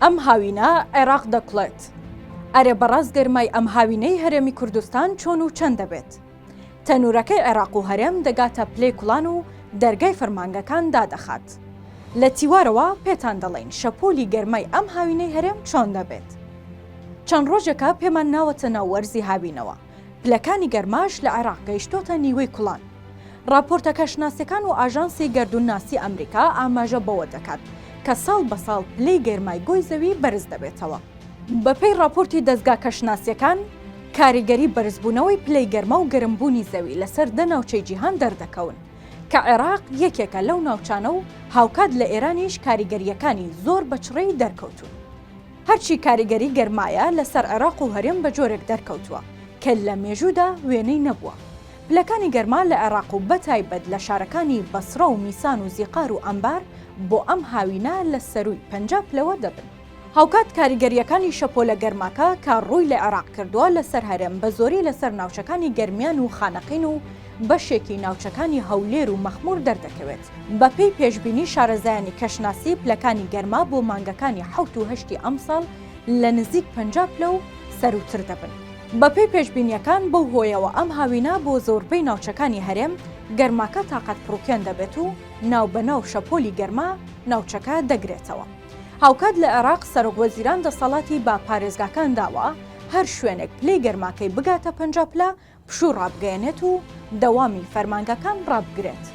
ئەم هاوینە عێراق دەکوڵێت. ئەرێ بەڕاست گەرمای ئەم هاوینەی هەرێمی کوردستان چۆن و چەند دەبێت؟ تەنوورەکەی عێراق و هەرێم دەگاتە پلەی کوڵان و دەرگای فەرمانگەکان دادەخات. لە تیوارەوە پێتان دەڵێین شەپۆلی گەرمای ئەم هاوینەی هەرێم چۆن دەبێت. چەند ڕۆژێکە پێمان ناوەتە ناو وەرزی هاوینەوە. پلەکانی گەرماش لە عێراق گەیشتۆتە نیوەی کوڵان. ڕاپۆرتە کەشناسیەکان و ئاژانسی گەردوونناسی ئەمریکا ئاماژە بەوە دەکات کە ساڵ بە ساڵ پلەی گەرمای گۆی زەوی بەرز دەبێتەوە. بەپێی ڕاپۆرتی دەزگا کەشناسیەکان، کاریگەری بەرزبوونەوەی پلەی گەرما و گەرمبوونی زەوی لەسەر دە ناوچەی جیهان دەردەکەون، کە عێراق یەکێکە لەو ناوچانە و هاوکات لە ئێرانیش کاریگەرییەکانی زۆر بە چڕیی دەرکەوتوون. هەرچی کاریگەری گەرمایە لەسەر عێراق و هەرێم بە جۆرێک دەرکەوتووە کە لە مێژوودا وێنەی نەبووە. پلەکانی گەرما لە عێراق و بەتایبەت لە شارەکانی بەسڕە و میسان و زیقار و ئەنبار بۆ ئەم هاوینە لە سەرووی پەنجا پلەوە دەبن. هاوکات کاریگەرییەکانی شەپۆلە گەرماکە کە رووی لە عێراق کردووە لەسەر هەرێم بە زۆری لەسەر ناوچەکانی گەرمیان و خانەقین و بەشێکی ناوچەکانی هەولێر و مەخموور دەردەکەوێت. بەپێی پێشبینی شارەزایانی کەشناسی پلەکانی گەرما بۆ مانگەکانی حەوت و هەشتی ئەمساڵ لە نزیک پەنجا پلە و سەرووتر دەبن. بەپێی پێشبینییەکان بەو هۆیەوە ئەم هاوینە بۆ زۆربەی ناوچەکانی هەرێم گەرماکە تاقەت پڕوکێن دەبێت و ناوبەناو شەپۆلی گەرما ناوچەکە دەگرێتەوە. هاوکات لە عێراق سەرۆک وەزیران دەسەڵاتی بە پارێزگاکان داوە هەر شوێنێک پلەی گەرماکەی بگاتە پەنجا پلە پشوو ڕابگەیەنێت و دەوامی فەرمانگەکان ڕابگرێت.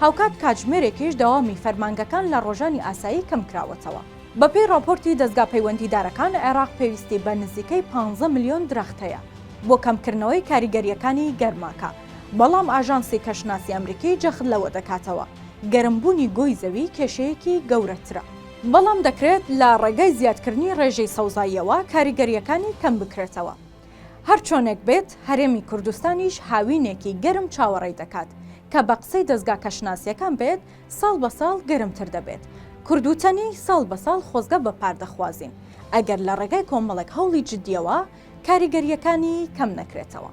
هاوکات کاتژمێرێکیش دەوامی فەرمانگەکان لە ڕۆژانی ئاسایی کەمکراوەتەوە. بەپێی ڕاپۆرتی دەزگا پەیوەندیدارەکان، عێراق پێویستی بە نزیکەی پانزە ملیۆن درەخت هەیە بۆ کەمکردنەوەی کاریگەرییەکانی گەرماکە، بەڵام ئاژانسی کەشناسی ئەمریکی جەخت لەوە دەکاتەوە، گەرمبوونی گۆی زەوی کێشەیەکی گەورەترە. بەڵام دەکرێت لە ڕێگای زیادکردنی ڕێژەی سەوزاییەوە کاریگەرییەکانی کەمبکرێتەوە. هەرچۆنێک بێت هەرێمی کوردستانیش هاوینێکی گەرم چاوەڕێی دەکات کە بە قسەی دەزگا کەشناسیەکان بێت ساڵ بە ساڵ گەرمتر دەبێت کوردوتەنی ساڵ بە ساڵ خۆزگە بە پار دەخوازین ئەگەر لە ڕێگای کۆمەڵێک هەوڵی جدیەوە کاریگەریەکانی کەم نەکرێتەوە.